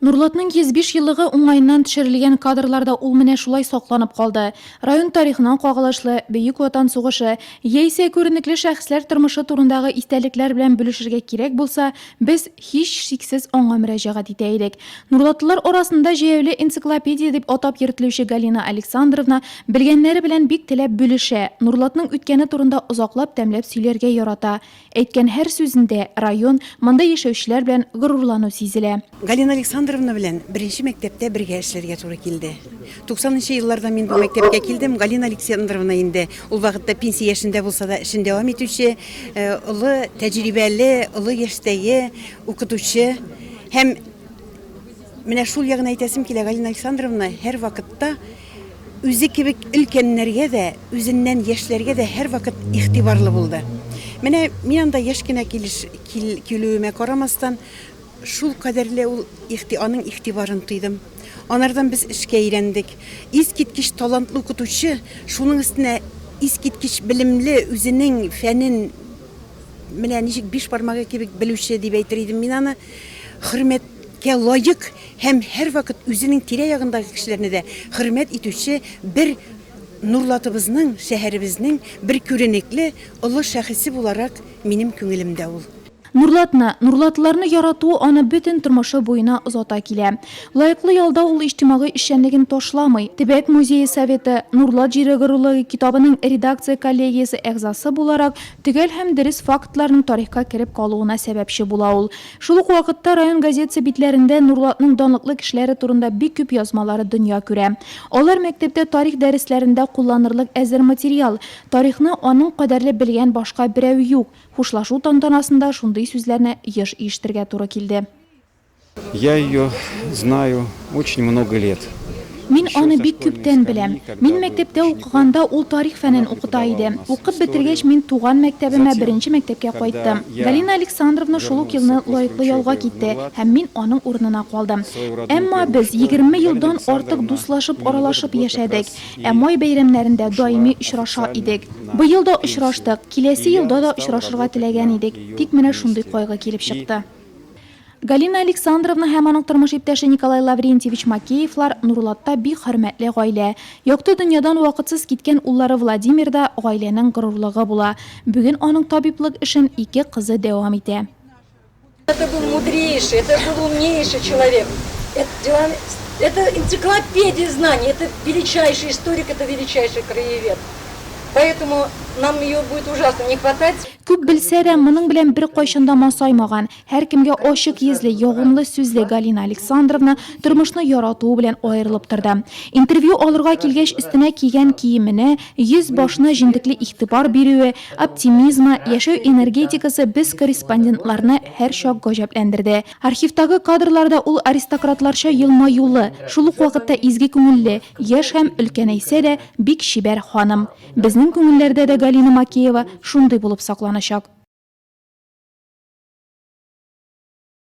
Нурлатның 105 еллыгы уңаеннан төшерелгән кадрлар да ул менә шулай сакланып калды. Район тарихына кагылышлы, Бөек Ватан сугышы, яисә күренекле шәхесләр тормышы турындагы истәлекләр белән бүлешергә кирәк булса, без, һичшиксез, аңа мөрәҗәгать итә идек. Нурлатлылар арасында җәяүле энциклопедия дип атап йөртелүче Галина Александровна белгәннәре белән бик теләп бүлешә, Нурлатның үткәне турында озаклап-тәмләп сөйләргә ярата. Әйткән һәр сүзендә район, монда яшәүчеләр белән горурлану сизелә. Галина Александровна белән беренче мәктәптә бергә эшләргә туры килде. Туксанынчы елларда мин бу мәктәпкә килдем, Галина Александровна инде ул вакытта пенсия яшендә булса да, эшен дәвам итүче, олы тәҗрибәле, олы яшьтәге укытучы. Һәм менә шул ягын әйтәсем килә, Галина Александровна һәрвакытта, Үзе кебек өлкәннәргә дә, үзеннән яшьләргә дә һәрвакыт игътибарлы булды. Менә мин анда яшь кенә килеш, кил, килүемә карамастан, шул кадәрле ул игъти, аның игътибарын тойдым. Анардан без эшкә өйрәндек. Искиткеч талантлы укытучы, шуның өстенә искиткеч белемле, үзенең фәнен менә ничек биш бармагы кебек белүче дип әйтер идем мин аны. Хөрмәткә лаек Һәм һәрвакыт үзенең тирә-ягындагы кешеләрне дә хөрмәт итүче бер Нурлатыбызның, шәһәребезнең бер күренекле олы шәхесе буларак минем күңелемдә ул. Нурлатны, нурлатыларны ярату аны бөтен тормышы буена озата килә. Лаеклы ялда ул иҗтимагый эшчәнлеген ташламый. Төбәк музее советы, Нурлат җире горурлыгы китабының редакция коллегиясе әгъзасы буларак, төгәл һәм дөрес фактларның тарихка кереп калуына сәбәпче була ул. Шул ук вакытта район газетасы битләрендә Нурлатның данлыклы кешеләре турында бик күп язмалары дөнья күрә. Алар мәктәптә тарих дәресләрендә кулланырлык әзер материал. Тарихны аның кадәрле белгән башка берәү юк. Хушлашу тантанасында шундый сүзләрне еш ишетергә туры килде. Я ее знаю. Очень много лет. Мин аны бик күптән беләм. Мин мәктәптә укыганда ул тарих фәнен укыта иде. Укып бетергәч, мин туган мәктәбемә, беренче мәктәпкә кайттым. Галина Александровна шул ук елны Лаеклы ялга китте һәм мин аның урынына калдым. Әмма без егерме елдан артык дуслашып, аралашып яшәдек. Ә май бәйрәмнәрендә даими очраша идек. Быел да очраштык, киләсе елда да очрашырга теләгән идек, тик менә шундый кайгы килеп чыкты. Галина Александровна һәм аның тормыш иптәше Николай Лаврентьевич Макеевлар Нурлатта бик хөрмәтле гаилә. Якты дөньядан вакытсыз киткән уллары Владимир да гаиләнең горурлыгы була. Бүген аның табиблык эшен ике кызы дәвам итә. Это был мудрейший, это был умнейший человек. Это энциклопедия знаний, это величайший историк, это величайший краевед. Поэтому нам ее будет ужасно не хватать. Күп белсә дә, моның белән беркайчан да масаймаган. Һәркемгә ачык йөзле, ягымлы сүзле Галина Александровна тормышны яратуы белән аерылып торды. Интервью алырга килгәч, өстенә кигән киеменә, йөз-башына җентекле игътибар бирүе, оптимизмы, яшәү энергетикасы без корреспондентларны һәрчак гаҗәпләндерде. Архивтагы кадрларда ул аристократларча елмаюлы, шул ук вакытта изге күңелле, яшь һәм, өлкәнәйсә дә, бик чибәр ханым. Безнең күңелләрдә дә Галина Макеева шундый булып сакланачак.